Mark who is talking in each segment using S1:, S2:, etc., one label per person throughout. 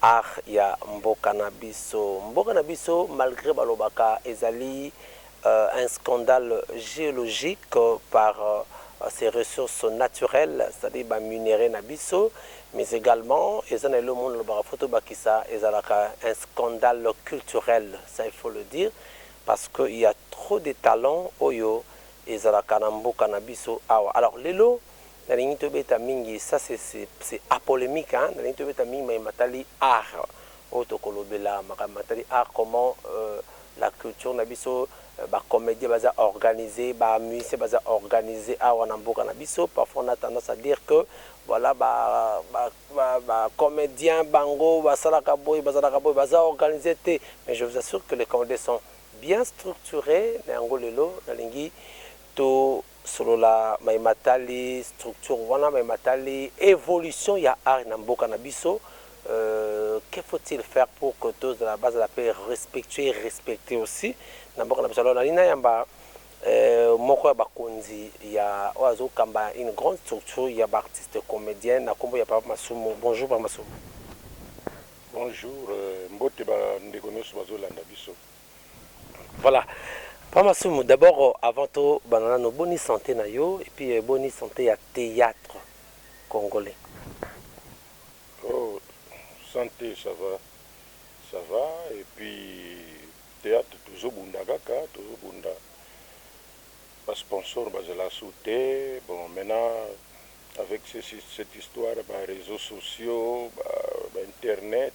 S1: Art ya mboka na biso. Mboka na biso malgre balobaka ezali un scandale geologique par ses ressources naturelles c'est à dire ba minerais na biso mais egalement eza na eloko moko nalobaka faut tobakisa ezalaka un scandale culturel ça il faut le dire parce que il ya trop des talents oyo ezalaka na mboka na biso awa alors lelo Nalingi tobeta mingi, ça c'est apolemique hein, nalingi tobeta mingi maye matali art oyo tokolobela makambo matali art comment la culture na biso ba comediens baza organise, ba musiciens baza organise awa na mboka na biso parfois on a tendance à dire que voilà ba comediens bango basalaka boye bazalaka boye baza organise te mais je vous assure que les comediens sont bien structures na yango lelo nalingi to Solola maye matali structure wana, maye matali evolution ya art na mboka na biso, que faut il faire pour que tozala bazala pe respectueux et respecter aussi na mboka na biso. Alors nalingi nayamba moko ya bakonzi ya oyo azo kamba une grande structure ya ba artistes comediens na kombo ya Papa Masumu. Bonjour Papa Masumu.
S2: Bonjour, mbote ba ndeko nionso bazo landa biso.
S1: Voilà papa masumu d'abord avant to banda nanu boni sante na yo et puis boni sante ya theatre congolais.
S2: Oh sante ça va ça va et puis theatre tozo bunda kaka tozo bunda ba sponsor ba zela su te bon maintenant avec cette histoire ba reseaux sociaux ba internet.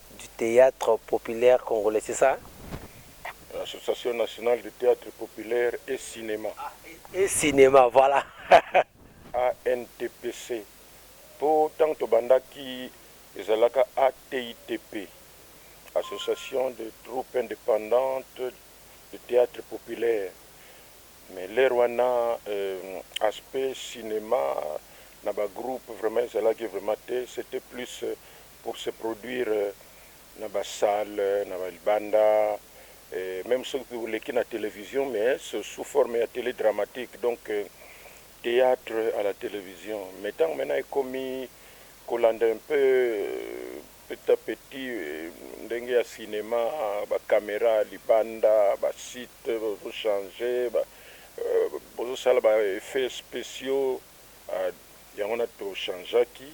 S1: du theatre populaire congolais c'est ça?
S2: Association nationale du theatre populaire et cinema. Et cinema
S1: voilà. ANTPC
S2: po tango tobandaki ezalaka ATITP, Association de troupes independantes de theatre populaire mais l'heure wana aspect cinema na ba groupes vraiment ezalaki vraiment te c'etait plus pour se produire na ba salle na ba libanda et meme soki oleki na television mais ce sous forme ya tele dramatique donc theatre à la television mais tango maintenant ekomi kolanda un peu petit à petit ndenge ya cinema ba camera libanda ba site bazo change ba bozo sala ba effets speciaux yango wana to changeaki.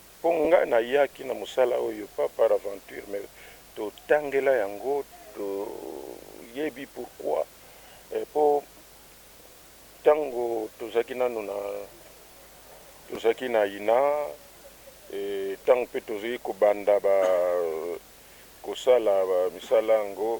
S2: Po nga na yaki na musala oyo pas par aventure mais to tangela yango to yebi pourquoi po tango to zalaki nanu na to zalaki na ina et tango pe to zalaki ko banda ba ko sala ba misala yango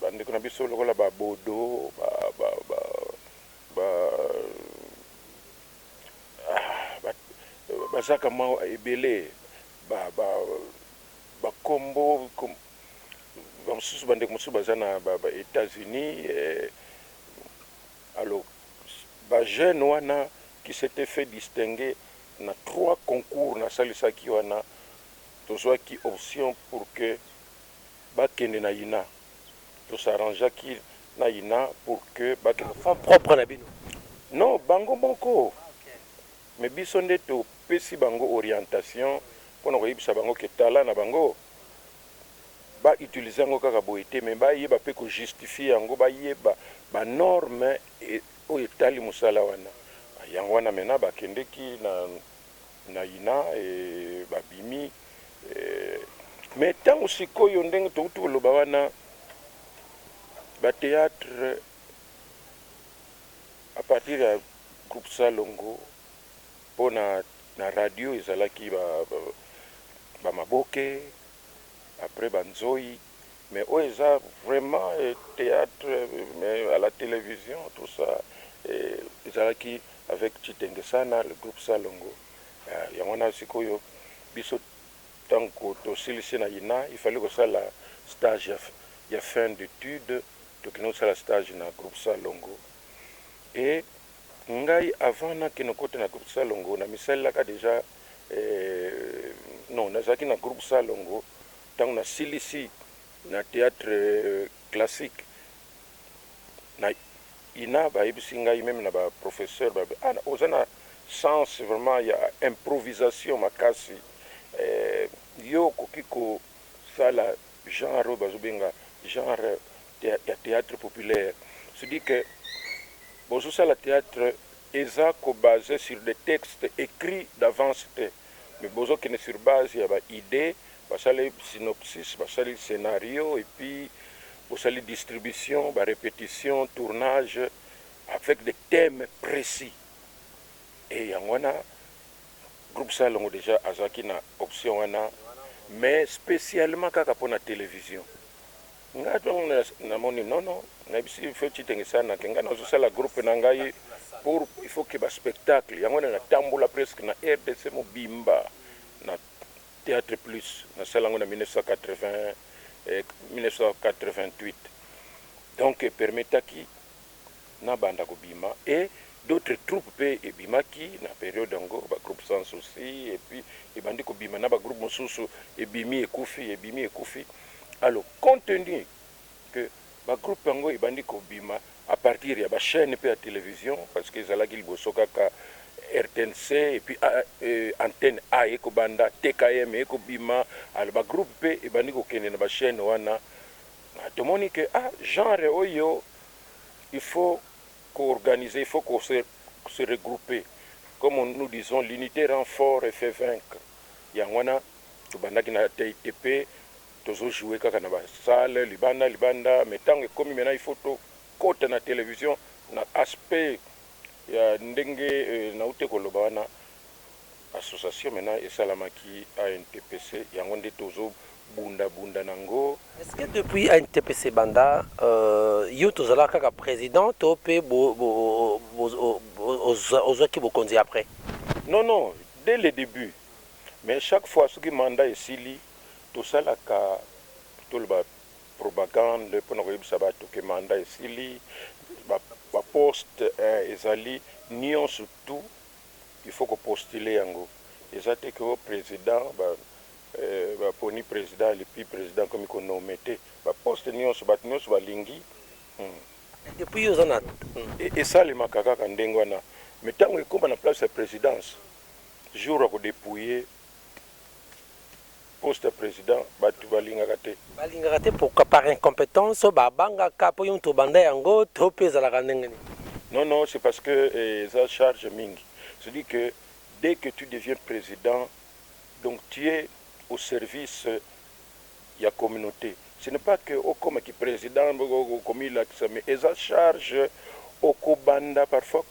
S2: ba ndeko na biso lokola ba bodo ba ba ba ba ba baza ka mwa ebele ba ba ba kombo ba mosusu ba ndeko mosusu baza na ba ba etats unis alo ba jeune wana qui s'etait fait distinguer na trois concours na salisaki wana tozwaki option pour que ba kende na ina to s'arrangeaki na ina pour que ba kende na fonds propre na bino?
S1: Non bango
S2: moko mais biso nde to pesi bango orientation pona ko yebisa bango que talent na bango ba utiliser yango kaka boye te mais ba yeba pe ko justifier yango ba yeba ba normes oyo etali musala wana yango wana maintenant ba kendeki na na ina eh, babimi eh, mais tango sikoyo ndenge towuti koloba wana ba theatre à partir ya groupe Salongo mpo na na radio ezalaki ba, ba, ba Maboke après ba Nzoi Mais oyo eza vraiment theatre mais à la television tout ça ezalaki avec Tshitenge ça na le groupe Salongo yango wana sikoyo biso tangu tosilisi na ina il fallait kosala stage ya fin d'etude tokende kosala stage na groupe Salongo et ngai avant nakende kokota na groupe Salongo namisalelaka dejà non nazalaki na groupe Salongo Tango na silisi na theatre classique na ina ba yebisi ngai meme na ba professeurs ba lobi ah oza na sens vraiment ya improvisation makasi eh yo okoki ko sala genre oyo bazo benga genre ya theatre populaire ce dit que bozo sala theatre eza ko base sur des textes ecrits d'avance te. mais bozo kende sur base ya ba idees basali synopsis basali scenario et puis bosali distribution ba repetitions tournage avec des themes precis et yango wana groupe salongo dejà azalaki na option wana mais specialement kaka pona television. Nga tangu na moni non non na yebisi feti te nge sa na ke nga na zo sala groupe na ngai pour il faut que ba spectacle yango wana na tambola presque na rdc mobimba na theatre plus na sala yango na 1980 1988 donc e permetaki na banda kobima et d'autres troupes pe ebimaki na periode yango ba groupes sans souci et puis ebandi kobima na ba groupes mosusu ebimi ekufi ebimi ekufi alors compte tenu que ba groupes yango ebandi kobima à partir ya ba chaines pe ya television parce que ezalaki liboso kaka rtnc et puis antenne A eko banda TKM eko bima alors ba groupes pe ebandi kokende na ba chaines wana tomoni que ah genre oyo Il faut ko organiser, il faut ko se se regrouper comme nous disons l'unite rend fort et fait vaincre yango wana tobandaki na TITP tozo jouer kaka na ba salles libanda libanda mais tango ekomi maintenant il faut tokota na television na aspect ya ndenge nawuti koloba wana Association maintenant esalamaki ANTPC yango nde tozo bunda bunda na ngo. Est ce que depuis
S1: ANTPC ebanda yo tozalaka kaka president to pe ozwaki bokonzi après? Non non
S2: dès le debut mais chaque fois soki mandat esili tosalaka toloba propagande pona koyebisa batu que mandat esili ba poste ezali nionso tout. il faut ko postuler yango eza te que oh president ba ba poni president et puis president akomi ko nommer te ba poste nionso batu nionso ba lingi hum.
S1: Et puis yo oza na hum. Esalemaka
S2: kaka ndenge wana mais tangu ekoma na place ya presidence jour ya ko depouiller Poste ya president batu balingaka te. Balingaka te
S1: pourquoi? Par incompetence? Ba bangaka po yo mutu obanda yango to pe ezalaka ndenge nini? Non non c'est parce
S2: que eza charge mingi ce dit que dès que tu deviens president donc tu es au service ya communaute ce n'est pas que okoma ki president okomilakisa mais eza charge okobanda parfois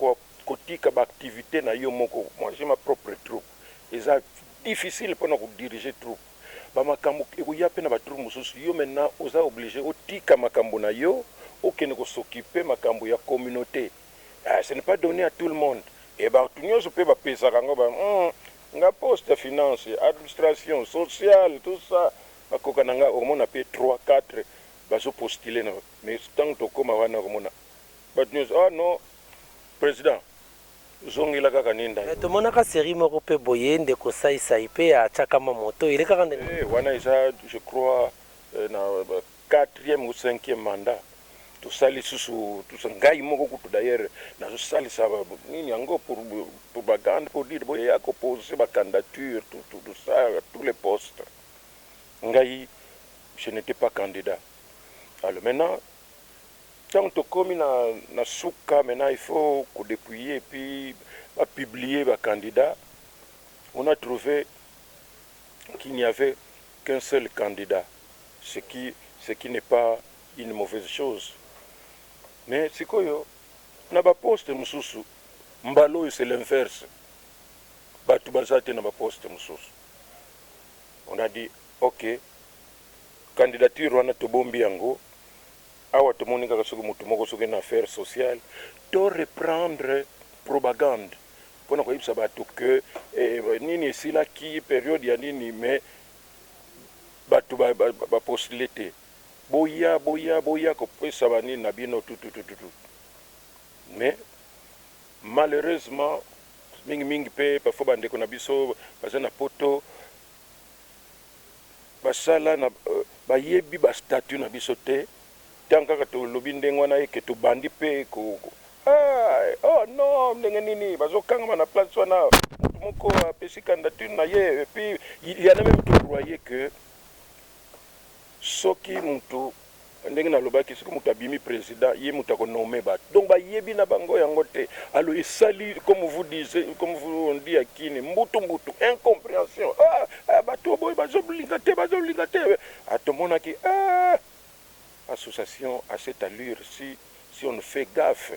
S2: kotika ba activites nayo moko moi j'ai ma propre troupe. Eza difficile pona ko diriger troupe ba makambu ekoya pe na ba troupe mususu yo maintenant oza oblige otika makambu na yo okende ko s'occuper makambu ya communaute eh ce n'est pas donne à tout le monde et batu nionso pe ba pesaka ngo ba hum nga poste ya finance, administration, sociale tout ça ba koka na nga omona pe trois quatre bazo postuler na mais tangu tokoma wana okomona batu nionso ah non president. zongela kaka ninda yo. Mais tomonaka serie
S1: moko pe boye ndeko sai sai pe a chakama moto elekaka ndenge wana. Hee wana eza
S2: je crois na quatrième ou cinquième mandat tosali lisusu tous ngai moko kutu d'ailleurs nazo salisa nini yango pour propagande pour dire boye ya ko poser ba candidature tout tout tout ça tous les postes ngai je n'etais pas candidat alors maintenant Tango tokomi na na suka maintenant il faut ko depuiye et puis ba publie ba candidats on a trouve qu'il n'y avait qu'un seul candidat ce qui ce qui n'est pas une mauvaise chose mais sikoyo na ba poste mosusu mbala oyo c'est l'inverse batu baza te na ba poste mosusu on a dit ok candidature wana tobombi yango. Awa tomoni kaka soki mutu moko soki na affaire social to reprendre propagande pona koyebisa batu que nini esilaki periode ya nini mais batu ba postuler te boya boya boya kopesa ba nini na bino tututututu mais malheureusement mingi mingi pe parfois ba ndeko na biso baza na poto basala na ba yebi ba statut na biso te tango kaka to lobi ndenge wana eke to bandi pe ko aah oh non ndenge nini bazo kangama na place wana mutu moko apesi candidature na ye epuis il ya na meme to croyez que soki mutu ndenge na lobaki soki mutu abimi president ye mutu ako nomme batu donc ba yebi na bango yango te alors esali comme vous disez comme vous on dit à kin mbutu mbutu incomprehension aah batu oboyi bazo linga te bazo linga te ah to monaki aah association à cette allure si si on ne fait gaffe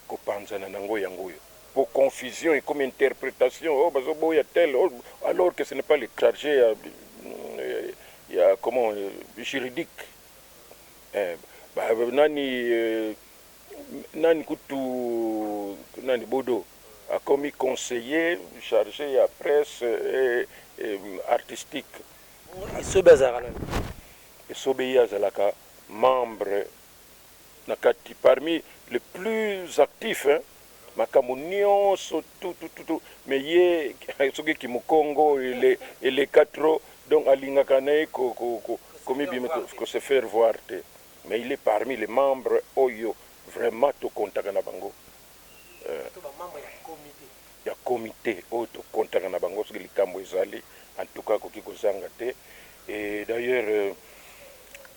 S2: Kopanzana nango yango oyo po confusion ekomi interpretation oh bazo boya tel oh alors que ce n'est pas le charge ya ya comment juridique eh ba nani nani kutu nani bodo akomi conseiller charge ya presse et artistique. Esobe azalaka nani? Esobe ye azalaka membre. na kati parmi les plus actif hein makambo nionso tout tout tout tout mais ye soki kimukongo eleka trop donc alingaka naye komibimisa ko se faire voir te mais il est parmi les membres oyo vraiment to comptaka na bango ya comite oyo to comptaka na bango soki likambu ezali en tout cas akoki kozanga te et d'ailleurs.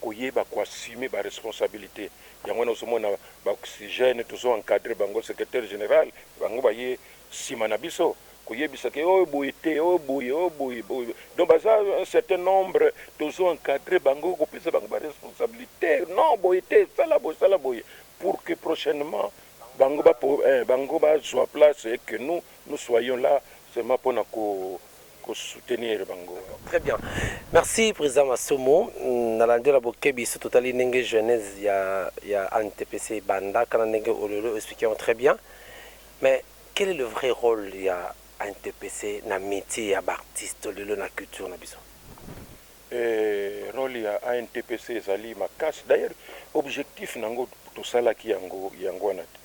S2: koyeba ko assumer ba responsabilite yango wana ozo mona ba oxygène tozo encadrer bango secretaire general bango baye sima na biso koyebisa ke oyo boye te oyo boye oyo boye boye donc baza un certain nombre tozo encadrer bango kopesa bango ba responsabilite non boye te sala boye sala boye pour que prochainement bango ba bango bazua place et que nous nous soyons là seulement pona ko ko soutenir bango. Très bien
S1: merci president masumu na landi yo na bokebi surtout totali ndenge jeunesse ya ya antepese ebanda kana ndenge olelo explique yango très bien mais quel est le vrai role ya antepese na metier ya ba artiste olelo na culture na biso Eeh role
S2: ya ANTPC ezali makasi d'ailleurs objectif na ngo tosalaki yango yango wana te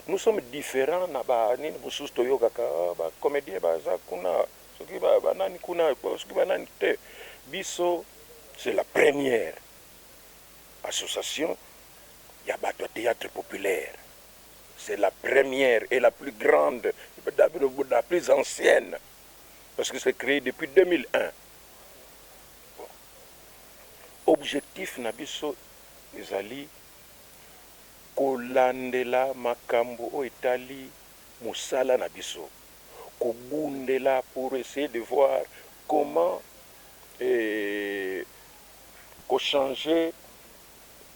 S2: nous sommes differents na ba nini mosusu toyokaka oh ba comediens baza kuna soki ba ba nani kuna soki ba nani te biso c'est la première association ya batu ya theatre populaire c'est la première et la plus grande la plus ancienne parce que c'est cree depuis 2001 Objectif na biso ezali kolandela makambo oyo etali mosala na biso, kobundela pour essayer de voir comment ko changer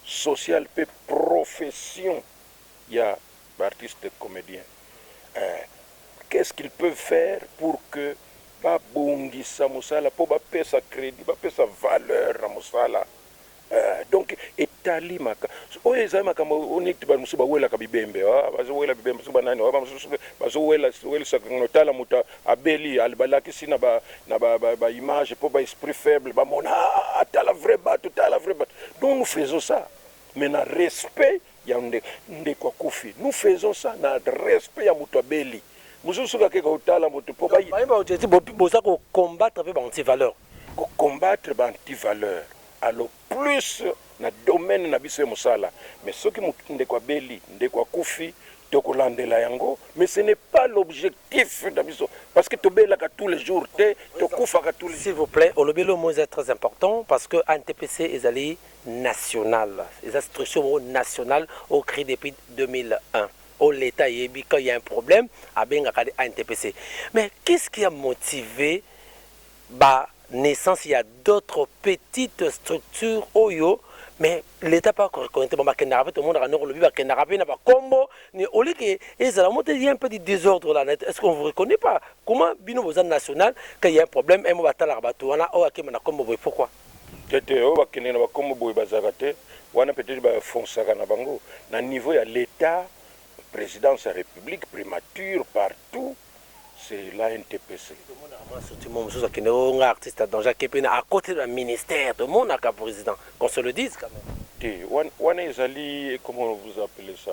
S2: social mpe profession ya Ba artistes comediens eh qu'est ce qu'ils peuvent faire pour que ba bongisa musala po ba pesa credit ba pesa valeur na musala eh donc etali maka oyo ezali makambo oyo neti ba mususu ba welaka bibembe oh bazo wela bibembe soki ba nani oh ba mususu bazo wela welisa ngo tala mutu abeli ba lakisi na ba na ba ba image po ba esprit faible ba mona ah tala vrai batu tala vrai batu donc nous faisons ça mais na respect Yango nde ndeko akufi nous faisons ça na respect ya mutu abeli mususu soki ake ko tala mutu po ba Baye ba jeti boza ko
S1: combattre pe ba anti valeur. Ko combattre
S2: ba anti valeur a lo plus na domaine na biso ya musala mais soki mutu ndeko abeli ndeko akufi toko landela yango mais ce n'est pas l'objectif na biso parce que to belaka tous les jours te to kufaka tous les S'il vous plait olobeli oyo
S1: mot eza très important parce que antpc ezali nationale eza structure moko nationale oyo cree depuis 2001 oyo l'etat ayebi quand il ya un problème abengaka nde intpc mais qu'est ce qui a motive ba naissance ya d'autres petites structures oyo mais l'etat pe ako reconnaitre bango bakendaka pe tomonaka noko lobi bakendaka pe na ba kombo au lieu que ezala mot il ya un peu du desordre là est ce qu'on vous reconnais pas comment bino boza nationale quand il ya un problème un mot batalaka batu wana oyo akemba na kombo boye pourquoi Te te oyo ba
S2: kende na ba kombo boye bazalaka te wana peut etre ba fonsaka na bango na niveau ya l'etat presidence ya republique primature partout c'est la intpc. Tomonaka mua soutiment
S1: mosusu akende oyo nga artiste ya danger ake pe na a cote de ba ministère tomonaka president qu'on se le dise quand meme. Te wana ezali
S2: comment vous appelez ça.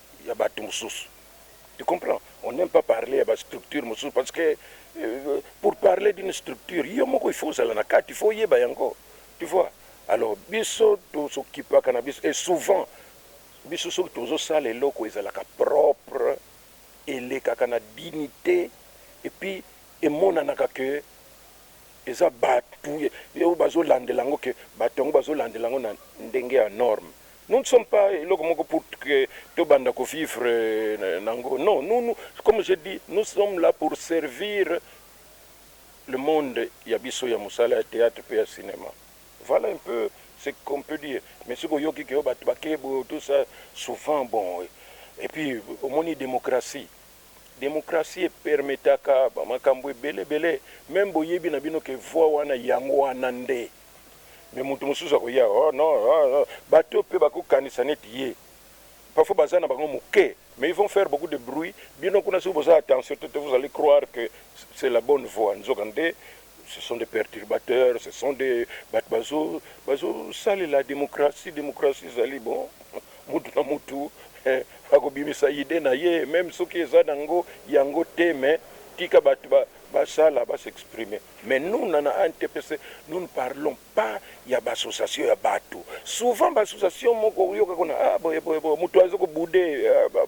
S2: ya batu mususu tu comprends on n'aime pas parler ya ba structure mususu parce que pour parler d'une structure yo moko il faut ozala na kati il faut oyeba yango tu vois alors biso tozokipaka na biso et souvent biso soki tozosala eloko ezalaka propre elekaka na dignité et puis emonanaka que eza batu oyo bazolandela yango ke batu yango bazolandela yango na ndenge ya norme Nous ne sommes pas eloko moko pour que to banda ko vivre nango non nous nous comme j'ai dit nous sommes là pour servir le monde ya biso ya musala ya theatre pe ya cinema voilà un peu ce qu'on peut dire mais soki oyoki que batu ba ke boye tout ça souvent bon et puis omoni democratie democratie e permetaka ba makambu ebele ebele meme boyebi na bino que voix wana yango wana nde mais mutu mususu akoya oh non oh, oh. bato oyo mpe bakokanisa neti ye parfois baza na bango moke mais ils vont faire beaucoup de bruit bino kuna soki boza attention te vous allez croire que c'est la bonne voie nzoka nde ce sont des perturbateurs ce sont des bato bazo bazosalela démocratie démocratie ezali bon mutu na mutu eh, akobimisa ide na ye meme soki eza nango yango te mais tika bato basala ba basexprime Mais nous na na antepc nous ne parlons pas ya ba association ya batu souvent ba association moko okoyoka kuna ah boye boye boye mutu azo ko boude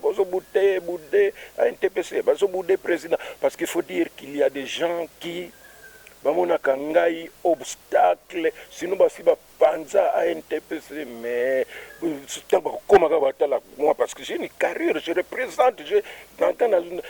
S2: bozo bute boude antepc bazo boude president parce qu'il faut dire qu'il ya des gens qui bamonaka ngai obstacle sinon basi ba panza intps mais tango bakokoma kaka batala moi parce que j'ai une carrière je représente je nanga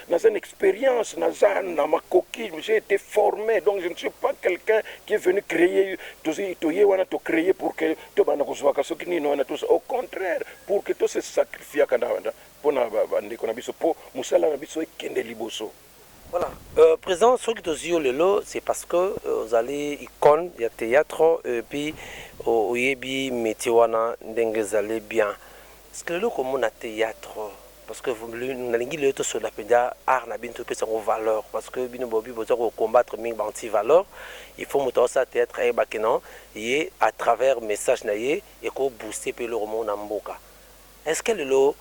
S2: naza na expérience naza na makoki j'ai été formé donc je ne suis pas quelqu'un qui est venu créer tozi toye wana to créer pour que to bana kozwaka soki nini wana tous au contraire pour que to se sacrifiaka na wana pona ba ndeko na biso po musala na biso
S1: ekende liboso Voilà euh, president soki tozwi yo lelo c'est parce que euh, ozali icone ya théâtre et puis euh, oyebi métier wana ndenge ezali bien parce que lelo komona théâtre parce que nalingi lelo tosolola mpenza art na bino topesa yango valeur parce que bino bobi boza kocombattre mingi banti valeur il faut moto aosala théâtre ayebake non ye à travers message na ye ekobooste mpe eloko moko na mboka est ce que lelo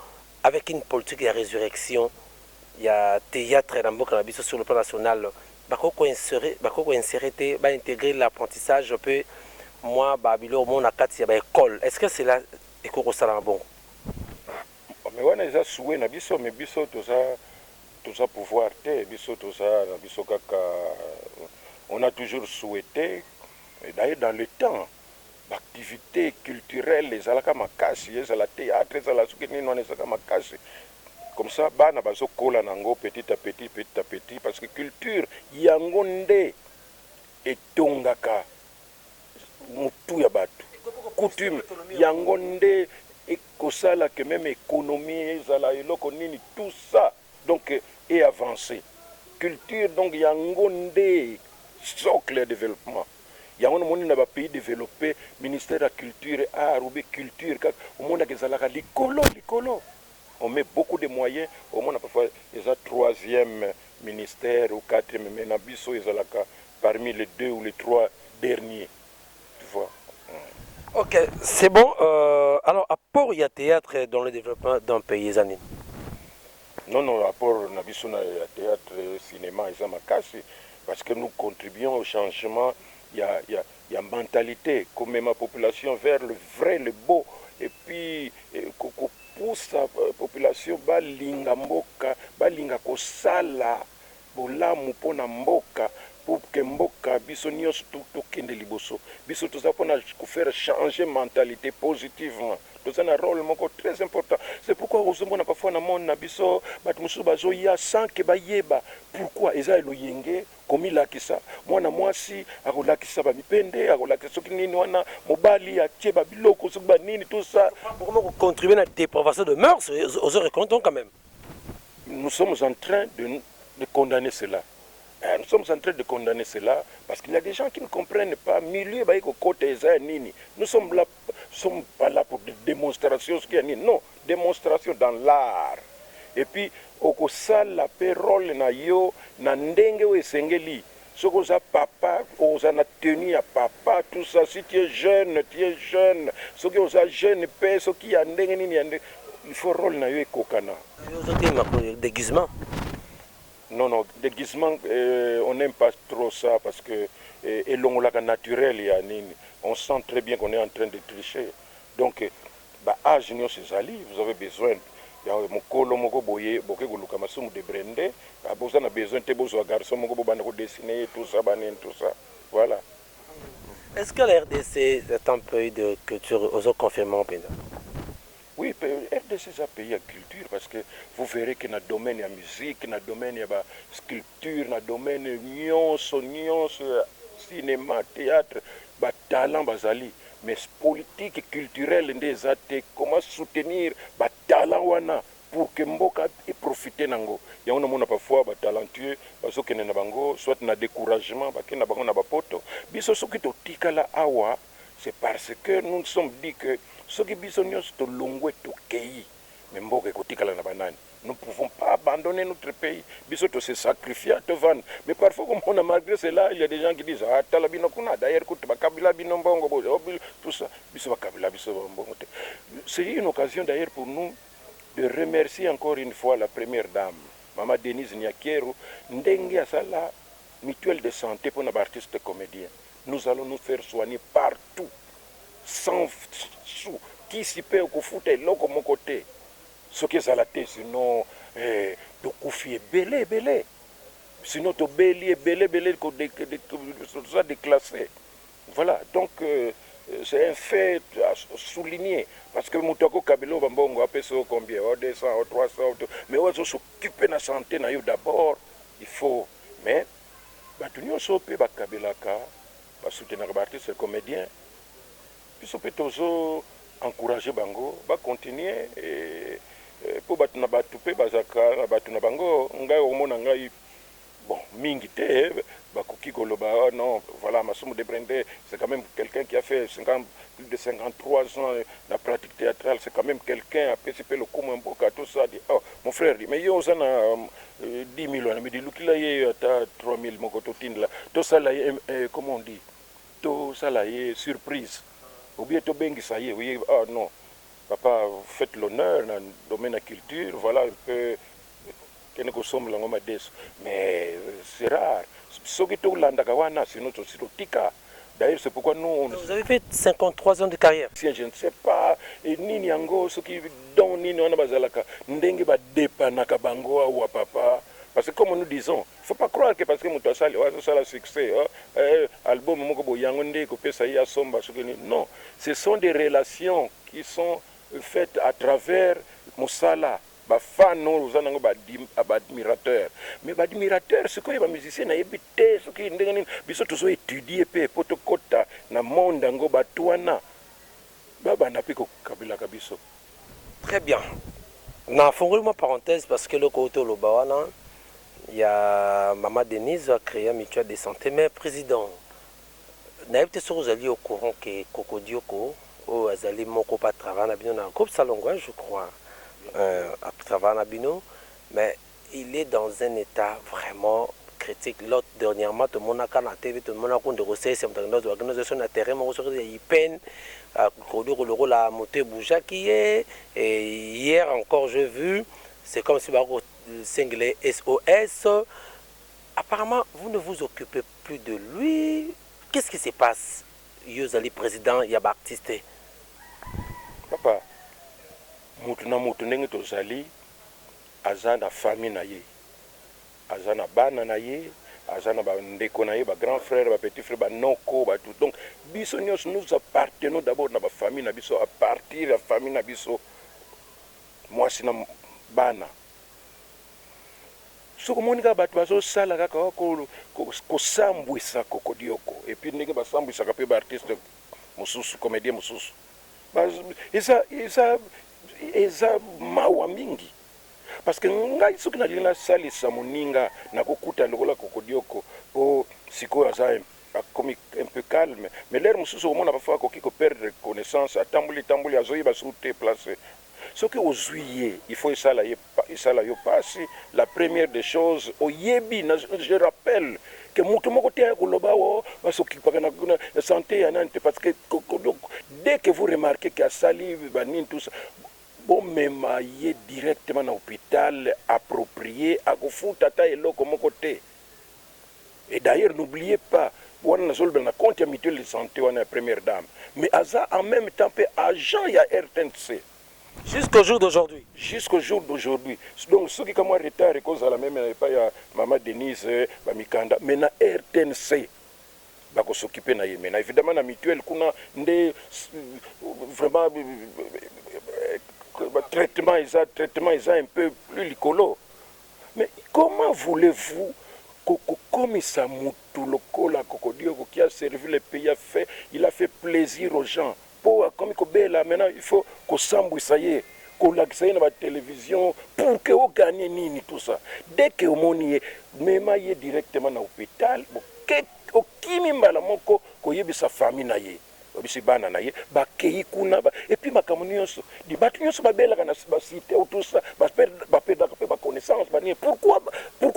S1: avec une politique ya résurrection ya theatre na mboka na biso sur le plan national bakoki ko inserer bakoki ko inserer te ba integrer l'apprentissage pe mua ba biloko moko na kati ya ba ecoles est ce que cela ekoki kosalama bongo?
S2: Mais wana eza souhait na biso mais biso toza toza pouvoir te biso toza na biso kaka on a toujours souhaite d'ailleurs dans le temps ba activites culturelles ezalaka makasi, ezala theatre, ezala soki nini wana ezalaka makasi comme ça bana bazo kola na yango petit à petit, petit à petit parce que culture yango nde etongaka mutu ya batu, coutume yango nde ekosala que meme economie ezala eloko nini tout ça. Donc e avancer culture donc yango nde socle ya developpement yango na moni na ba pays developpe ministère ya culture a roube culture kaka omonaka ezalaka likolo likolo on met beaucoup de moyens omona parfois eza troisième ministère ou quatrième mais na biso ezalaka parmi les deux ou les trois derniers tu vois hmm. ok
S1: c'est bon euh, alors apport ya théâtre dans le développement d'un pays eza nini non
S2: non apport na biso na ya théâtre cinéma eza makasi parce que nous contribuons au changement ya, ya, ya mentalité komema population vers le vrai le beau et puis eh, kopusa euh, population balinga mboka balinga kosala Bolamu pona mboka pour que mboka biso nionso to kende liboso biso toza pona ko faire changer mentalite positivement toza na role moko très important c'est pourquoi ozo mona parfois na monde na biso batu mosusu bazo ya sans que ba yeba pourquoi eza eloyenge komi lakisa mwana mwasi ako lakisa ba mipende ako lakisa soki nini wana mobali atie ba biloko soki ba nini tout ça. Boko moko contribuer na
S1: depravation de mœurs ozo reconnaitre yango quand meme. Nous sommes
S2: en train de de condamner cela eh, nous sommes en train de condamner cela parce qu'il y a des gens qui ne comprennent pas milieu baye kokota eza ya nini. Nous sommes là sommes pas là pour des demonstrations soki ya nini non demonstration dans l'art et puis okosala pe role na yo na ndenge oyo esengeli. soki oza papa okozala na tenue ya papa tout ça si tu es jeune tu es jeune soki oza jeune pe soki ya ndenge nini ya ndenge il faut role na yo ekokana. Yo ozo telema ko
S1: deguisement?
S2: Non non deguisement euh, on n'aime pas trop ça parce que euh, elongolaka naturel ya nini on sent très bien qu'on est en train de tricher donc Ba age nionso ezali vous avez besoin ya mukolo moko boye boke koluka masumu de brende ah boza na besoin te bozua garçon moko bobanda ko dessine ye tout ça ba nini tout ça voilà.
S1: Est ce que la rdc est un pays de culture ozo confirme yango penza? Oui
S2: rdc eza pays ya culture parce que vous verrez que na domaine ya musique na domaine ya ba sculpture na domaine nionso nionso ya cinema theatre ba talent bazali Mais politique culturelle nde eza te, comment soutenir ba talents wana pour que mboka e profiter nango? Yango na mona parfois ba talentueux bazo kende na bango soit na decouragement ba kende na bango na ba poto. Biso soki to tikala awa c'est parce que nous nous sommes dit que soki biso nionso to longwe to keyi, Mais mboka ekotikala na ba nani? Nous pouvons pas abandonner notre pays biso to se sacrifia tovanda mais parfois okomona malgre cela il ya des gens qui disent ah tala bino kuna d'ailleurs kutu bakabila bino mbongo bo tout ça biso bakabila biso ba mbongo te c'est une occasion d'ailleurs pour nous de remercier encore une fois la première dame mama Denise Niakeru ndenge asala mutuelle de santé pona ba artistes comediens nous allons nous faire soigner par tout sans sou kisi pe okofuta eloko moko te soki ezala te sinon hee tokufi ebele ebele sinon tobeli ebele ebele toza declasse voila donc c'est un fait a souligne parce que mutu ako kabela yo ba mbongo apesa yo combien o 200 o 300 mais oyo azo s'occuper na sante nayo d'abord il faut mais batu nionso pe bakabelaka Ba soutenaka ba artistes comediens biso pe tozo encourager bango ba continuer po batu na batu pe bazalaka na batu na bango ngai okomona ngai bon mingi te bakoki koloba oh non voilà Masumu de Brende c'est quand meme quelqu'un qui a fait 50 plus de 53 ans na pratique theatrale c'est quand meme quelqu'un apesi pe lokumu ya mboka tout ça dit oh mon frère dit mais yo oza na dix mille wana mais dilukila ye ata trois mille moko totindela tosala ye eh, comment on dit tosala ye surprise obie tobengisa ye oye ah non papa faites l'honneur na domaine ya culture voilà un peu kende kosombela yango madesu mais c'est rare soki tolandaka wana sino tosi totika D'ailleurs c'est pourquoi nous on Vous avez fait
S1: 53 ans de carrière. Sien je ne sais pas
S2: et nini yango soki don nini wana bazalaka ndenge ba depanaka bango awa papa parce que comme nous disons il faut pas croire que parce que mutu asali oh, azosala succès oh, eh, album moko boye yango nde ekopesa ye asomba soki nini non ce sont des relations qui sont faites à travers mosala Ba fan oyo oza nango ba admirateurs mais ba admirateurs sikoyo ba musiciens nayebi te soki ndenge nini biso tozo etudier pe po tokota na monde yango batu wana ba banda pe ko kabelaka biso. Très bien
S1: na fongoli mwa parenthèse parce que eloko owuti oloba wana ya maman Denise a crea mutuelle de sante mais president Nayebi te soki ozali au courant que Kokodioko oyo azali moko pe a travailla na bino na groupe Salongo hein je crois euh a travailla na bino mais il est dans un etat vraiment critique l'autre dernièrement tomonaka na TV tomona kutu ndeko Sese mutu akendaki kozua kino son na terrain moko soki ya Ipn Kokodioko lokola moto e bougeaki ye et hier encore j'ai vu c'est comme si ba ko sengela ye SOS apparemment vous ne vous occupez plus de lui qu'est ce qui se passe yo ozali president ya ba artiste.
S2: Papa mutu na mutu ndenge tozali aza na famille na ye aza na bana na ye aza na ba ndeko na ye ba grand frère ba petit frère ba noko ba tout donc biso nionso nous appartenons d'abord na ba famille na biso à partir ya famille na biso muasi na bana Soki omoni kaka batu bazo sala kaka ko sambwisa kokodioko et puis ndenge ba sambwisaka pe ba artiste mususu comedien mususu eza eza eza mawa mingi parce que ngai soki na lingi na salisa moninga nako kuta lokola kokodioko po sikoyo aza akomi un peu calme mais lere mususu okomona pa fois akoki ko perdre connaissance atamboli tamboli azo yeba soki place soki ozui ye il faut esala ye Pa esala yo pasi la première des choses oyebi na je rappelle que mutu moko te aya koloba awa oh ba s'occupaka na sante ya nani te parce que dès que vous remarquez que asali ba nini tout ça bo mema ye directement na hopital approprie ako futa ata eloko moko te et d'ailleurs n'oubliez pas wana nazo lobela na compte ya mutuelle de sante wana ya première dame mais aza en meme temps pe agent ya rtnc. Jusqu'au jour
S1: d'aujourd'hui. Jusqu'au jour
S2: d'aujourd'hui. Donc soki ka mwa retard ekozala meme na epai ya mama Denise ba mikanda mais na rtnc bako s'occuper na ye mais na evidemment na mutuelle kuna nde vraiment ba traitement eza traitement eza un peu plus likolo mais comment voulez-vous kokomisa mutu lokola kokodioko qui a servi le pays a fait il a fait plaisir aux gens Po akomi kobela maintenant il faut kosambwisa ye kolakisa ye na ba television pour que o gagne nini tout ça dès que omoni ye mema ye directement na hopital okimi mbala moko koyebisa famille na ye oyebisi bana na ye bakeyi kuna et puis makambo nionso dit batu nionso babelaka na ba site ou tout ça ba perdaka pe ba connaissance ba nini pourquoi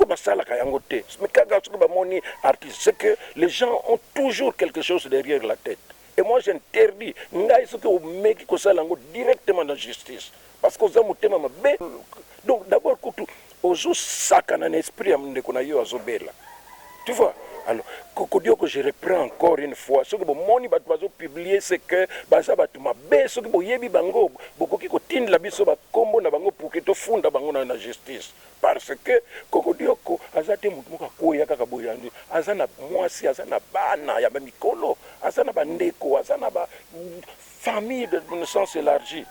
S2: basalaka yango te kaka soki bamoni artiste ce que les gens ont toujours quelque chose derrière la tete Et moi j'interdis ngai soki omeki kosala yango directement na justice parce que oza motema mabe donc d'abord kutu ozo sakana na esprit ya ndeko na yo azo bela tu vois alors kokodioko je reprends encore une fois soki bomoni bato bazo publier c'est que baza bato mabe soki boyebi bango bokoki kotindela biso ba kombo na bango pour que tofunda bango na na justice Parce que kokodioko aza te mutu moko akueya kaka boye ya nzoi aza na muasi aza na bana ya ba mikolo aza na ba ndeko aza na ba famille de sens elargi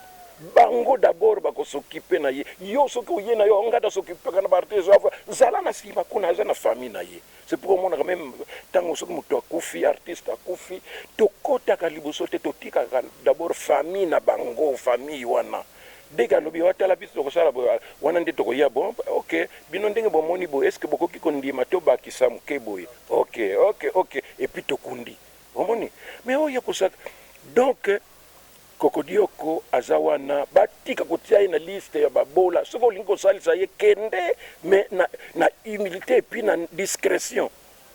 S2: bango d'abord bako s'occuper na ye yo soki oye na yo nga na s'occupaka na ba artistes zala na sima kuna aza na famille na ye C'est pourquoi omonaka meme tango soki mutu akufi artiste akufi tokotaka liboso te totikaka d'abord famille na bango famille wana dès que alobi oh tala biso tokosala boye wana nde tokoya bon ok bino ndenge bomoni boye est-ce que bokoki kondima tobakisa muke boye ok ok ok et puis tokundi omoni mais oyo kosaka donc Kokodioko aza wana batika kotia ye na liste ya ba bola soki olingi kosalisa ye kende mais na na humilite et puis na discretion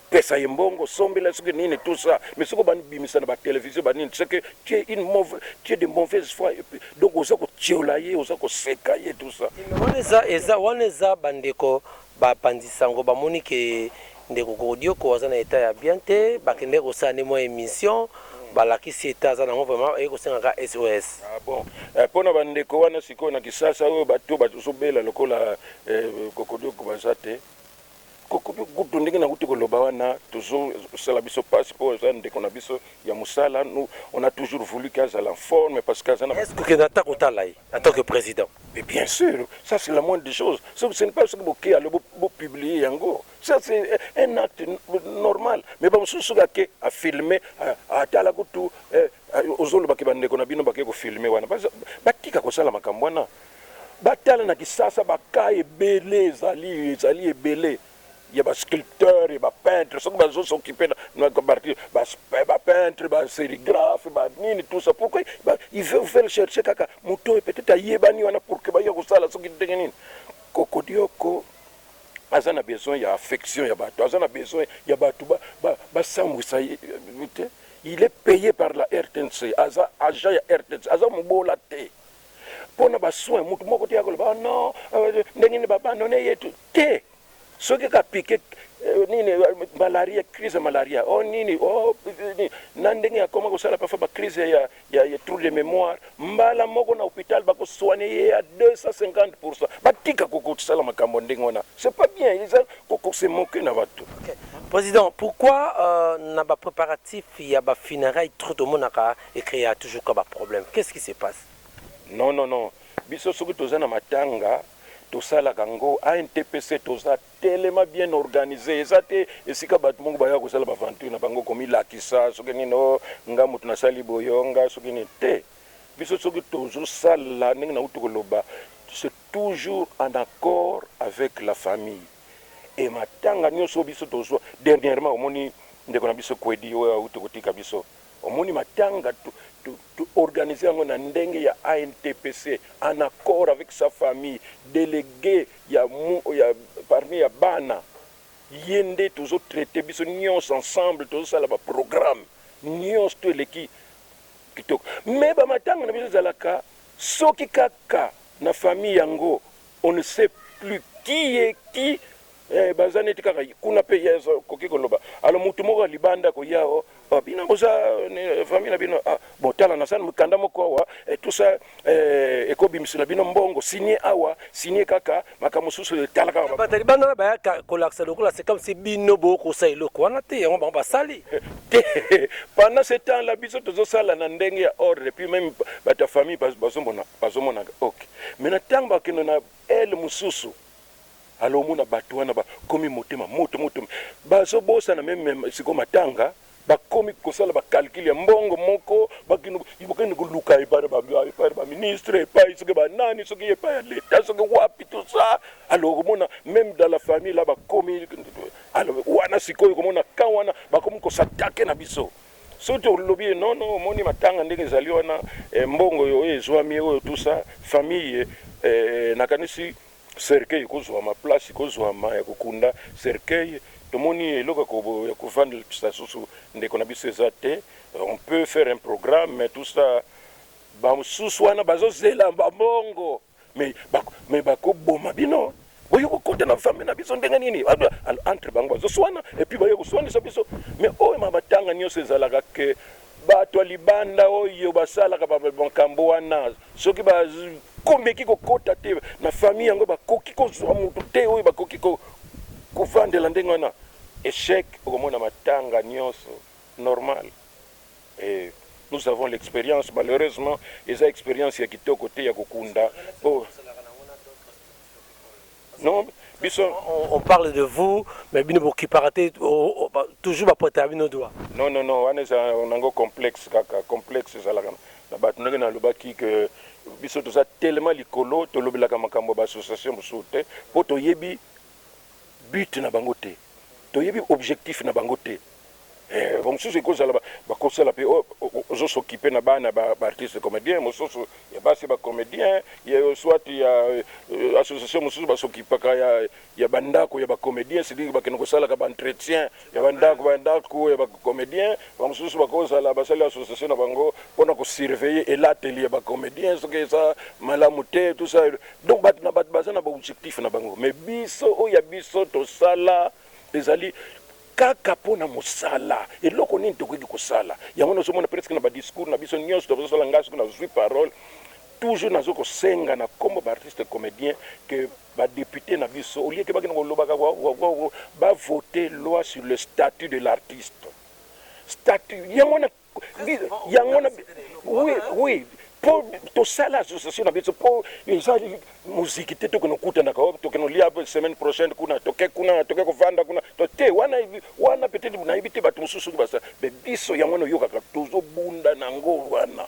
S2: pesa ye mbongo sombela ye soki nini tout ça mais soki obandi bimisa na ba television ba nini ce que tu es une mauvaise tu es de mauvaise foi et puis donc oza kotiola ye oza koseka ye tout ça. Wana eza eza wana
S1: eza ba ndeko Ba panzi sango ba moni que ndeko Kodioko aza na etat ya bien te, ba kendeki ko sala nde mwa emission, ba lakisi etat aza nango vraiment aye ko senga ka SOS. Ah bon! Eh
S2: pona ba ndeko wana sikoyo na kisasa oyo bato bazo bela lokola eh Kodioko baza te? Kodioko kutu ndenge nawuti ko loba wana tozo sala biso pasi po aza ndeko na biso ya musala, nous on a toujours voulu que azala en forme parce que aza na. Est ce que okenda ata ko tala ye?
S1: en tant que president. Mais bien sur
S2: ça c'est la moindre des choses soki ce n'est pas soki boke alo bopublie yango ça c'est un acte normal mais bamosusu soki ake afilme atala kutu eh, ozolobaki bandeko na bino bake kofilme wana batika kosala makambo wana batala na kisasa bakaa ebele ezali ezali ebele ya ba sculpteur ya ba peintre soki bazo s'occuper na parti ba peintre ba serigraphe ba nini tout ça pourquoi il veut faire chercher kaka moto oyo peut-être ayebani wana pour que baya kosala soki ndenge nini kokodioko aza na besoin ya affection ya bato aza na besoin ya bato basambwisa ye te il est payé par la rtnc aza agent ya rtnc aza mobola te pona ba soins mutu moko te akoloba oh non euh, ndenge nini ba abandonne ye tout te soki ka pique euh, nini euh, malaria crise malaria oh nini oh na ndenge ya koma kosala parfois ba crise ya, ya, ya trou de mémoire mbala moko na hôpital bako soigner ye ya 250% batika kokosala makambo ndenge wana c'est pas bien ils ont ko se moquer na batu okay. Président,
S1: pourquoi euh, na ba préparatifs ya ba funérailles trop tomonaka E crea toujours kaka ba problèmes qu'est ce qui se passe? Non non non
S2: biso soki toza na matanga tosalaka ngo a intpc toza telema bien organise eza te esika batu moko baya kosala ba vanture na bango komi lakisa soki nini oh nga mutu nasali boye oh nga soki nini te biso soki tozo sala ndenge na uti koloba c'est toujours en accord avec la famille et matanga nioso biso tozwa dernièrement omoni ndeko na biso kwedi oyo auti kotika biso Omoni matanga to to organiser yango na ndenge ya ANTPC en accord avec sa famille, delegue ya ya parmi ya bana ye nde tozo traiter biso nionso ensemble tozo sala ba programmes nionso tout eleki kitoko mais ba matanga na biso ezalaka soki kaka na famille yango on ne sait plus qui est qui Ee, baza neti kaka kuna pe ye azo koki koloba. Alors mutu moko ya libanda ako ya oh, oh bino boza eh, famille na bino ah, bo tala na sani mukanda moko awa eh, tout ça eh, eko bimisela bino mbongo signe awa signe kaka makambo mosusu eh, tala kaka Bata libanda na baya ka-
S1: kolakisa lokola c'est comme si bino bo kosa eloko wana te yango bango basali. te
S2: pendant ce temps là biso tozosala na ndenge ya ordre et puis même bato ya famille baz- bazomona- bazomonaka ok maintenant ntango bakende na ele mosusu Alors omona batu wana ba komi motema moto moto bazo bosana meme siko matanga ba komi kosala ba calcul ya mbongo moko ba kino ibo kende ko luka epa ba epa ba ministre epa isoke ba nani soki epa ya leta soki wapi tout ça alors omona meme dans la famille là ba komi alors wana siko yo komona kan wana ba komi ko s'attaquer na biso Soki tolobi ye non non omoni matanga ndenge ezali wana eh, mbongo yo oyo ezwami oyo tout ça famille eh, nakanisi cercueil ekozwama place ekozwama ya kokunda cercueil tomoni eloko ya ko- ya kovandisa susu ndeko na biso eza te on peut faire un programme mais tout ça bamosusu wana bazozela babongo mais ba mais ba ko boma bino boye ko kota na famille na biso ndenge nini entre bango bazo swana et puis baye ko swani sa biso mais oyo ma batanga nioso ezalaka que bato libanda oyo basalaka ba makambo wana soki ba komeki ko kota te na famille yango ba koki ko zwa mutu te oyo ba koki ko ko vandela ndenge wana échec okomona matanga nioso normal Eeh nous avons l'experience malheureusement eza experience ya kitoko te ya kokunda po non biso on parle de
S1: vous mais bino bo kipaka te toujours ba potaka bino doigt. Non non non wana eza
S2: nango complexe kaka complexe ezalaka na batu ndenge na lobaki que biso toza tellement likolo tolobelaka makambo ya ba association mosusu te po toyebi but na bango te. Toyebi objectif na bango te eh ba mususu eko zala bako sala pe ozo s'occuper na bana ba artiste comedien mususu ya basi ba comedien ya soit ya association mususu ba s'occupaka ya ya ba ndako ya ba comedien c'est dire ba kende ko salaka ba entretien ya ba ndako ba ndako ya ba comedien ba mususu bako zala ba sali association na bango pona ko surveiller elateli ya ba comedien soki eza malamu te tout ça Donc batu na batu baza na ba objectif na bango mais biso oyo ya biso tosala ezali kaka mpo na mosala eloko nini tokoki kosala yango nazomona presque na badiscours na biso nyonso tozosala ngai soki nazwi parole toujours nazo kosenga na nkombo baartiste comédien ke badepute na biso olieke bakende kolobaka bavote loi sur le statut de l'artiste statut yango wana Yango wana oui oui po tosala association na biso po eza muziki te tokende kokutanaka wapi tokende kolia semaine prochaine kuna toke kuna toke kovanda kuna to te wana wana peut-être nayebi te bato mosusu soki basala me biso yango wana oyokaka tozobunda na yango wana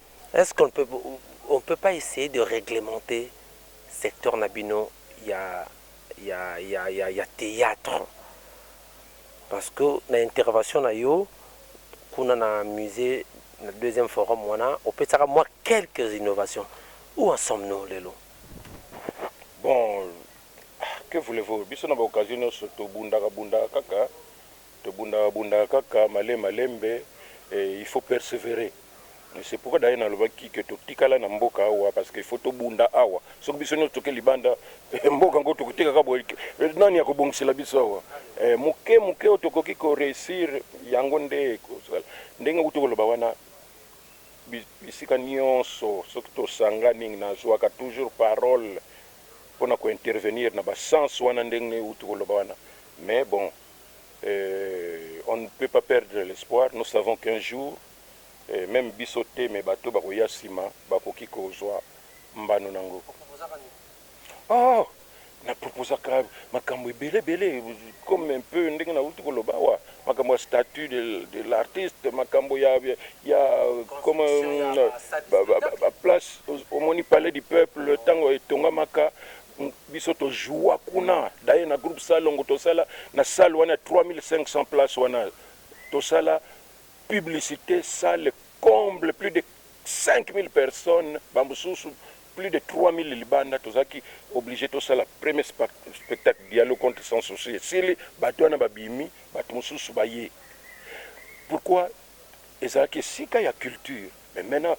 S1: Est ce qu'on peut on peut pas essayer de reglementer secteur na bino ya ya ya ya ya theatre parce que na intervention na yo kuna na musee na deuxième forum wana opesaka mwa quelques innovations où en sommes nous lelo?
S2: Bon que voulez vous biso na ba occasion nionso tobundaka bundaka kaka. Tobundaka bundaka kaka male malembe eh, il faut perseverer eh, c'est pourquoi d'ailleurs nalobaki que totikala na mboka awa parce que il faut tobunda awa, soki biso nionso toke libanda eh, mboka ngo tokote kaka boye eh, nani akobongisela biso awa eh, moke moke oyo tokoki ko reussir yango nde ekozala ndenge uti koloba wana bisika nionso soki tosangani nazuaka toujours parole pona ko intervenir na ba sens wana ndenge uti koloba wana mais bon Eeh on ne peut pas perdre l'espoir nous savons qu'un jour eeh meme biso te mais bato oyo bakoya sima bakoki kozua mbano nango. Ooh na proposaka makambo ebele ebele comme un peu ndenge nawuti koloba awa makambo ya statut de l'artiste makambo ya ya comme ba place omoni palais du peuple tango etongamaka biso to joua kuna d'ailleurs na groupe salongo tosala na salle wana 3500 place wana tosala publicité salle comble plus de 5000 personnes bamosusu plus de 3000 libanda tozalaki obligé tosala premier spectacle dialogue contre sans souci esili bato wana babimi bato mosusu baye pourquoi ezalaki esika ya culture mais maintenant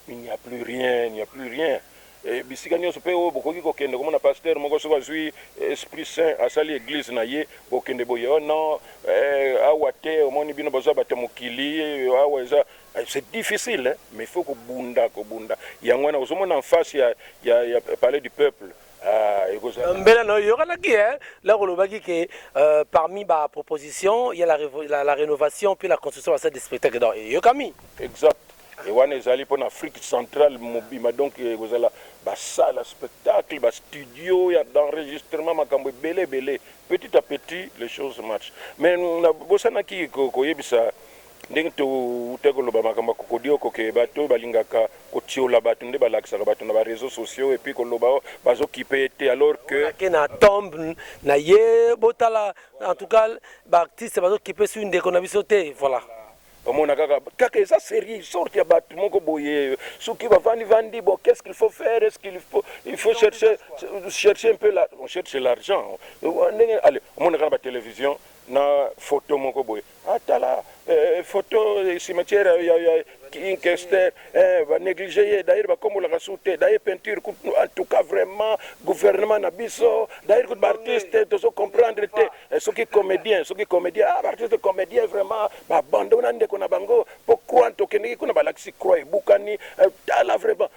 S2: Il n'y a plus rien, il n'y a plus rien et bisika nionso pe oyo bokoki kokende komona pasteur moko soki azui esprit saint asali eglise na ye bokende boye oh non eh, awa te omoni bino boza bato ya mokili awa eza eh, c'est difficile hein? mais il faut kobunda kobunda yango wana ozomona en face ya, ya, ya palais du peuple Ah, ekozala
S1: mbela na oyokanaki eh? la kolobaki ke euh, parmi ba proposition ya la, revo- la, la rénovation mpe la construction ya salle de spectacle donc eyokami exact
S2: Et wana ezali pona Afrique centrale mobimba donc ekozala ba salles ya spectacle, ba studio ya d'enregistrement makambo ebele ebele petit à petit les choses marchent mais na bosanaki koyebisa ndenge towutaki koloba makambo ya kokodioko que batu oyo balingaka kotiola batu nde balakisaka batu na ba reseaux sociaux et puis koloba oh bazo kipe ye te alors que Ake na tomb
S1: naye botala en tout cas ba artistes bazo kipe soki ndeko na biso te voilà. Omona kaka
S2: kaka eza serie sorte ya batu moko boye soki bavandi vandi bon qu'est-ce qu'il faut faire est-ce qu'il faut il faut chercher chercher un peu la on cherche l'argent ndenge allez omona kaka ba télévision na photo moko boye atala ah, eh, photo eh, cimetière ya ya King Kester eh, ba négliger ye d'ailleurs ba kombola ka sous te d'ailleurs peinture en tout cas vraiment gouvernement na biso d'ailleurs ba artistes tozo comprendre te Eh, soki comedien soki comedien ah, baartiste comedien vraiment babando na ndeko na bango mpo croix tokendeki kuna balakisi croix ebukani eh, tala vraiment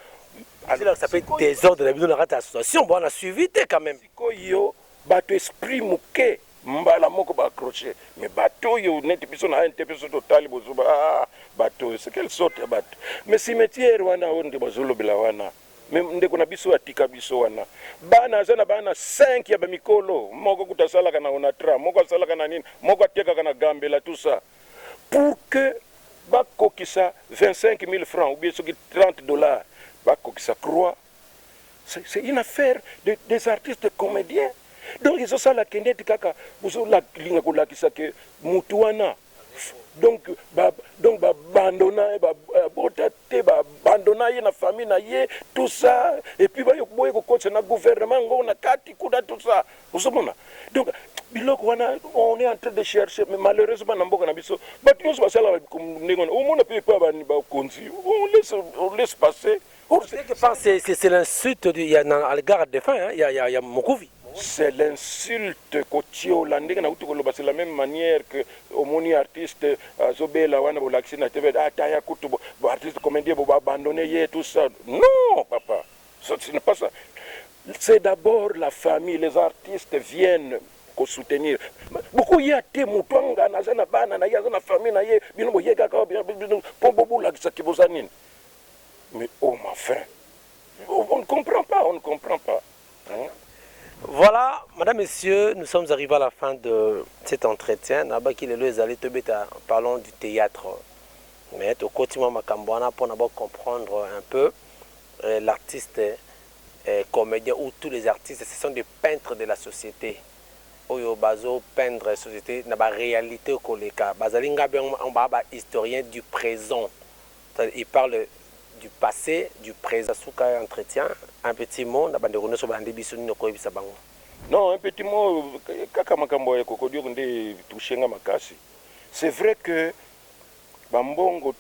S2: alakisa mpe
S1: desordre na bino na kati ya association bwana suivi te quand
S2: même
S1: sikoyo bato esprit
S2: moke mbala moko baakroche me bato oyo neti biso na ante biso totali bozuba ah, bato oyo sekele sorte ya bato me cimetiere wana oyo nde bazolobela wana Mais ndeko na biso atika biso wana bana aza na bana 5 ya ba mikolo moko kuta asalaka na onatra moko asalaka na nini moko atekaka na gambela tout ça pour que bakokisa 25000 francs ou bien soki 30 dollars bakokisa croix c'est une affaire de, des artistes comediens donc ezosala kende ete kaka bozolinga kolakisa ke mutu wana Donc ba donc ba bandona ye ba abota te ba bandona ye na famille na ye tout ça et puis ba boye ko kotisa na gouvernement ngo na kati kuna tout ça ozomona donc biloko wana on est en train de chercher mais malheureusement na mboka na biso bato nyonso basalaka ndenge wana omona mpe epa bakonzi on laisse, on laisse passer Ou quelque part c'est c'est
S1: c'est l'insulte de ya na à l'égard de fin hein, ya ya ya Mokuvi. C'est
S2: l'insulte kotiola ndenge na kutu koloba c'est la même manière que omoni artiste azobela wana bolakisi na TV ah taya kutu bo, bo artiste comedien bo abandonner ye tout ça non papa ce n'est pas ça c'est d'abord la famille les artistes viennent ko soutenir beaucoup ya te mutu angana aza na bana na ye aza na famille na ye bino boyekaka bino po bobulakisa ki boza nini Mais oh ma fin on ne comprend pas on ne comprend pas hein? Voilà,
S1: madame, messieurs, nous sommes arrivés à la fin de cet entretien. Nabaki lelo ezali tobeta parlons du théâtre. Mais tokoti mwa makambo wana mpo na ba comprendre un peu euh, l'artiste euh, comédien ou tous les artistes, ce sont des peintres de la société. Oyo bazo peindre société na ba réalité koleka. Bazali ngabe ba ba historiens du présent. Il parle du passe, du present suka entretien, un petit mot na ba ndeko nioso balandi biso nini okoyebisa bango? Non un petit
S2: mot kaka makambo ya kokodioko nde e toucher nga makasi c'est vrai que ba mbongo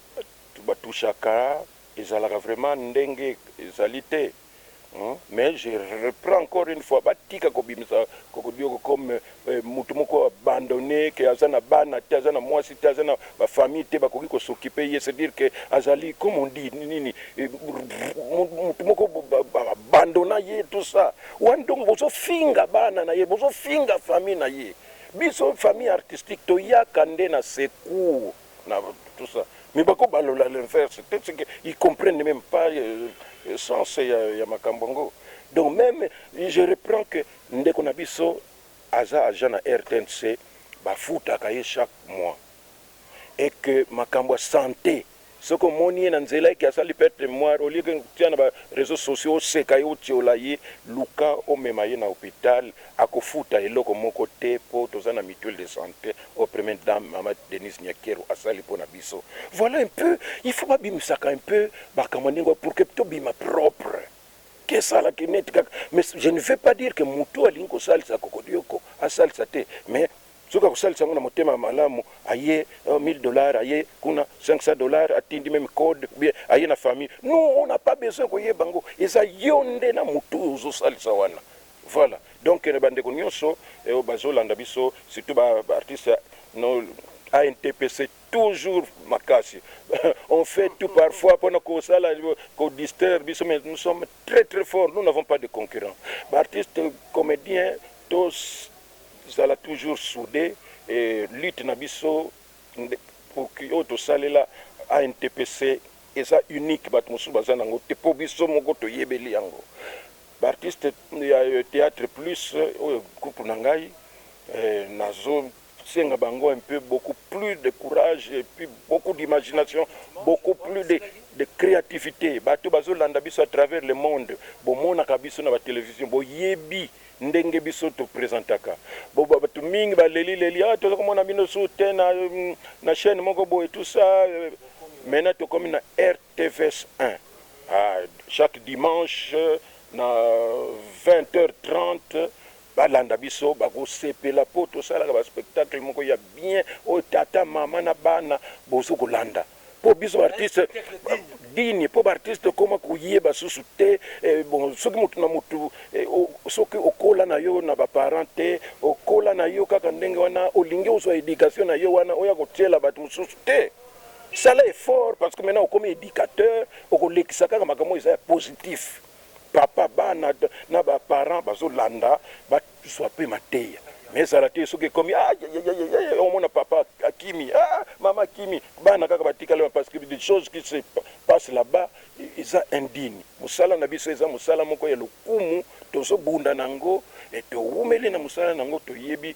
S2: ba touchaka ezalaka vraiment ndenge ezali te, Mais je reprends encore une fois batika kobimisa kokodioko comme euh, mutu moko abandonne que aza na bana te aza na mwasi te aza na ba famille te bakoki kosokipe ye c'est dire que azali comme on dit nini eh, mutu moko abandona ye tout ça wan donc bozofinga bana na ye bozofinga famille na ye biso famille artistique toyaka nde na secours na tout ça mais bako balola l'inverse peut-être que ils comprennent même pas euh, euh sens ya, ya makambo yango donc même je reprends que ndeko na biso aza agent na rtnc bafutaka ye chaque mois et que makambo ya santé soki omoni ye na nzela eke asali perte moire olie kotia na bareseau sociaux oseka ye otiola ye luka omema ye na hôpital Akofuta eloko moko te po toza na mutuelle de sante oyo première dame maman Denise Nyakeru asali po na biso. Voilà un peu il faut ba bimisaka un peu makambo ya ndenge oyo pour que to bima propre. Ke sala ke net kaka mais je ne veux pas dire que mutu oyo alingi ko salisa kokodioko a salisa te mais soki ako salisa yango na motema ya malamu aye 1000 dollars aye kuna 500 dollars atindi meme code ou bien aye na famille nous on n'a pas besoin ko yeba ngo eza yo nde na mutu oyo ozo salisa wana Voila donc na ba ndeko nionso oyo bazo landa biso surtout ba artiste ya no ANTPC toujours makasi on fait tout parfois pona ko sala ko distraire biso mais nous sommes très très fort nous n'avons pas de concurrent ba artiste comedien to zala toujours soude et lutte na biso pour que oyo to salela ANTPC eza unique bato mosusu baza nango te po biso moko to yebeli yango. Ba artistes ya theatre plus oyo groupe na ngai nazo senga bango un peu beaucoup plus de courage et puis beaucoup d'imagination beaucoup plus de de creativite batu bazo landa biso à travers le monde bo monaka biso na ba television bo yebi ndenge biso to presentaka bo batu mingi ba leli leli ah toza komona bino sous te na na chaine moko boye tout ça maintenant tokomi na Tvs un ahh chaque dimanche na 20 heures 30 ba landa biso bako sepela po to salaka ba spectacle moko ya bien oyo tata maman na bana bozo ko landa po biso ba artiste dignes po ba artiste to koma ko yeba susu te bon soki mutu na mutu soki o kola na yo na ba parents te o kola na yo kaka ndenge wana o lingi o zua education na yo wana o ya ko tiela batu mususu te. Sala effort parce que maintenant okomi educateur okolekisa kaka makambo oyo eza ya positif papa bana na ba parents bazolanda bazwa mpe mateya mais ezala te soki ekomi ayayayaya omona papa akimi ah, mama akimi bana kaka batikali wana parce que des choses qui se passe là-bas eza indigne mosala na biso eza mosala moko ya lokumu tozobunda na yango e towumeli na mosala na yango toyebi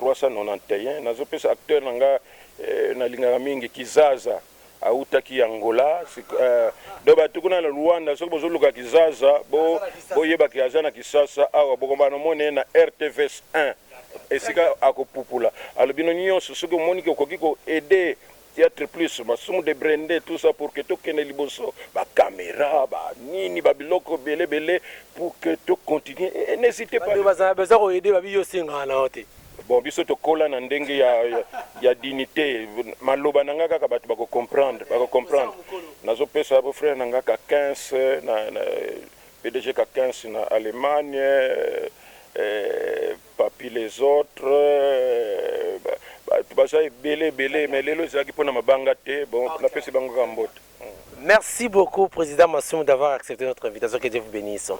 S2: 391 nazo pesa acteur na nga na lingaka mingi kizaza awutaki Angola donc batu kuna na Luanda soki bozo luka kizaza bo yeba ke aza na kisasa awa boko banda komona ye na RTVS 1 esika ako pupula alors bino nionso soki omoni ke okoki ko aider Theatre plus masumu de brende tout ça pour que tokende liboso ba camera ba nini ba biloko ebele ebele pour que to continuer et n'hesitez pas de baza ko aider babi
S1: yo senga wana yo te. Bon biso tokola
S2: na ndenge ya ya dignite maloba na nga kaka batu bako comprendre bako comprendre nazo pesa bo frère na nga kakins na pdg kakins na Allemagne eh, Papy les autres batu baza ebele ebele mais lelo ezalaki pona
S1: mabanga te bon napesi bango kaka mbote. Merci beaucoup President Masumu d'avoir accepte notre invitation que Dieu vous benisse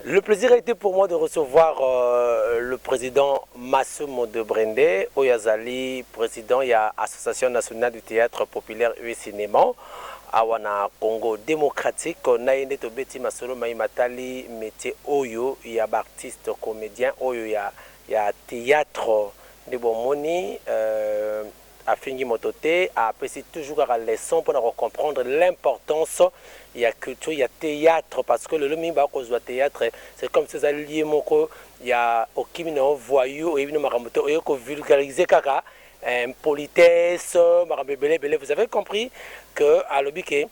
S1: le plaisir a ete pour moi de recevoir euh, le President Masumu de Brende oyo azali President ya Association Nationale du Théâtre Populaire et Cinéma awa na Congo Démocratique na ye nde tobeti masolo mai matali métier oyo ya ba Artiste comedien oyo ya ya theatre nde bo moni euh a fingi moto te a pesi toujours kaka leçon pona ko comprendre l'importance ya culture ya theatre parce que lelo mingi ba ko zua theatre c'est comme si oza lieu moko ya okimi na yo voyou oyebi na yo makambo te oye ko vulgariser kaka impolitesse makambo ebele ebele vous avez compris que alobi que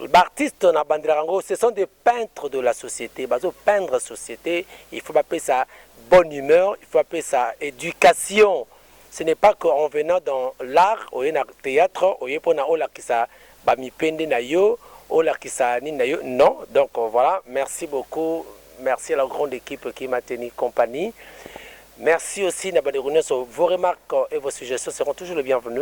S1: b'artistes na bandelaka yango ce sont des peintre de la societe bazo peindre societe il faut ba pesa bonne humeur il faut ba pesa education ce n'est pas que en venant dans l'art oye na theatre oye pona olakisa ba mipende nayo olakisa nini nayo non donc voilà merci beaucoup merci à la grande equipe qui m'a tenu compagnie merci aussi na bandeko nionso vos remarques et vos suggestions seront toujours le bienvenu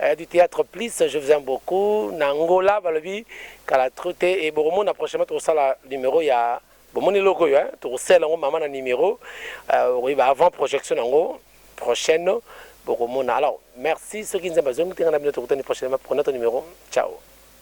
S1: Eh, du theatre please, je vous aime beaucoup. Na Angola balobi kala trop te et bokomona prochainement tokosala numero ya bomoni eloko oyo hein, tokosala yango mama na numero euh, okoyeba avant projection yango prochaine bokomona. Alors merci soki nzambe azongi te nga na bino tokutani prochainement pour notre numero. Ciao.